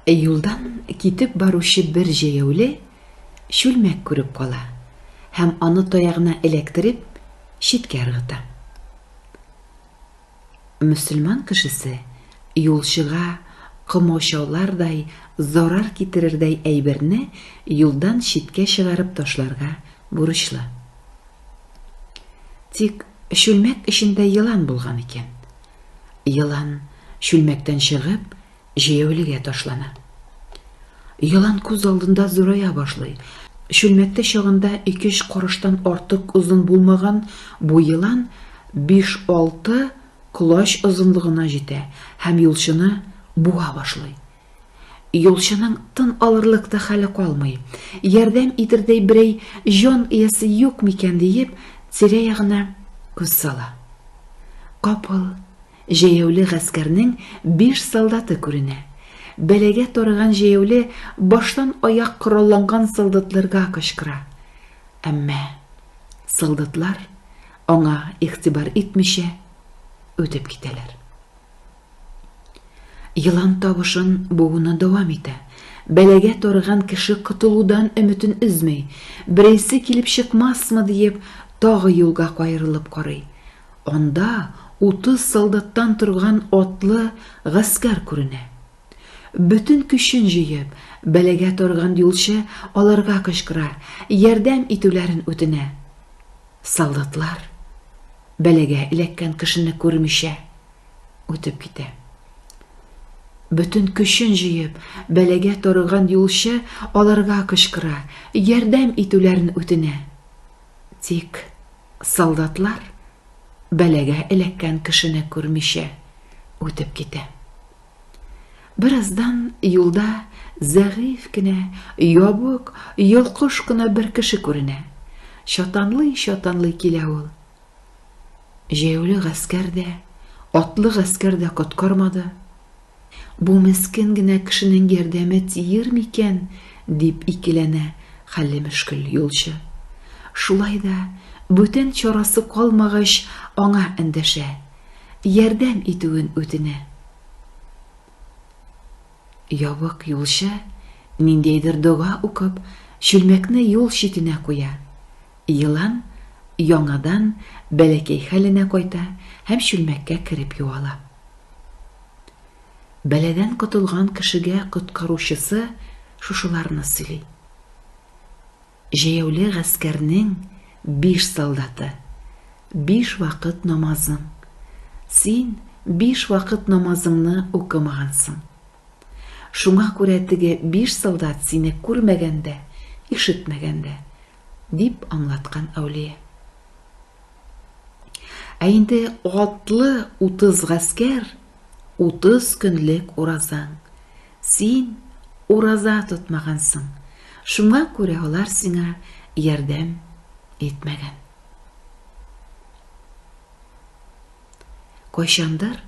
Ә юлдан китеп баручы бер җәяүле чүлмәк күреп кала һәм аны таягына эләктереп, читкә ыргыта. Мөселман кешесе юлчыга комачаулардай зарар китерердәй әйберне юлдан читкә чыгарып ташларга бурычлы. Тик чүлмәк эчендә елан булган икән. Елан чүлмәктән чыгып, Җәяүлегә ташлана. Елан күз алдында зурая башлый. Чүлмәктә чагында ике-өч карыштан артык озын булмаган бу елан биш-алты колач озынлыгына җитә һәм юлчыны буа башлый. Юлчының тын алырлык та хәле калмый. Ярдәм итәрдәй берәй җан иясе юк микән диеп, тирә-ягына күз сала. Капыл Җәяүле гаскәрнең биш солдаты күренә. Бәлагә тарыган җәяүле баштан аяк коралланган солдатларга кычкыра. Әмма солдатлар, аңа игътибар итмичә, үтеп китәләр. Елан тавышын бууны дәвам итә. Бәлагә тарыган кеше котылудан өметен өзми, берәйсе килеп чыкмасмы диеп, тагы юлга каерылып карый. Анда утыз солдаттан торган атлы гаскәр күренә. Бөтен көчен җыеп, бәлагә тарган юлчы аларга кычкыра, ярдәм итүләрен үтенә. Солдатлар, бәлагә эләккән кешене күрмичә, үтеп китә. Бөтен көчен җыеп, бәлагә тарган юлчы аларга кычкыра, ярдәм итүләрен үтенә. Тик солдатлар бәлагә эләккән кешене күрмичә үтеп китә. Бераздан юлда зәгыйфь кенә, ябык, йолкыш кына бер кеше күренә. Чатанлый-чатанлый килә ул. Җәяүле гаскәр дә, атлы гаскәр дә коткармады. Бу мескен генә кешенең ярдәме тиер микән? дип икеләнә хәлле мөшкел юлчы. Шулай да, бүтән чарасы калмагач, аңа эндәшә, ярдәм итүен үтенә. Ябык юлчы, ниндидер дога укып, чүлмәкне юл читенә куя. Елан яңадан бәләкәй хәленә кайта һәм чүлмәккә кереп юала. Бәладән котылган кешегә коткаручысы шушыларны сөйли. Җәяүле гаскәрнең биш солдаты, биш вакыт намазың. Син биш вакыт намазыңны укымагансың. Шуңа күрә теге биш солдат сине күрмәгән дә, ишетмәгән дә, дип аңлаткан әүлия. Ә инде атлы утыз гаскәр, утыз көнлек уразаң. Син ураза тотмагансың, шуңа күрә алар сиңа ярдәм итмәгән. Кайчандыр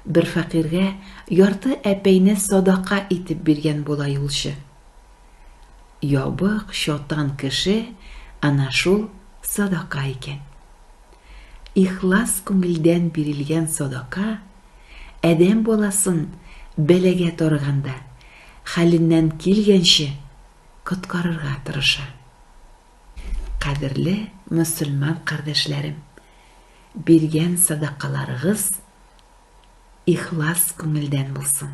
бер фәкыйрьгә ярты әпәйне садака итеп биргән була юлчы. Ябык, чатан кеше ана шул садака икән. Ихлас күңелдән бирелгән садака адәм баласын бәлагә тарыганда хәленнән килгәнче коткарырга тырыша. Кадерле мөселман кардәшләрем, биргән садакаларыгыз ихлас күңелдән булсын.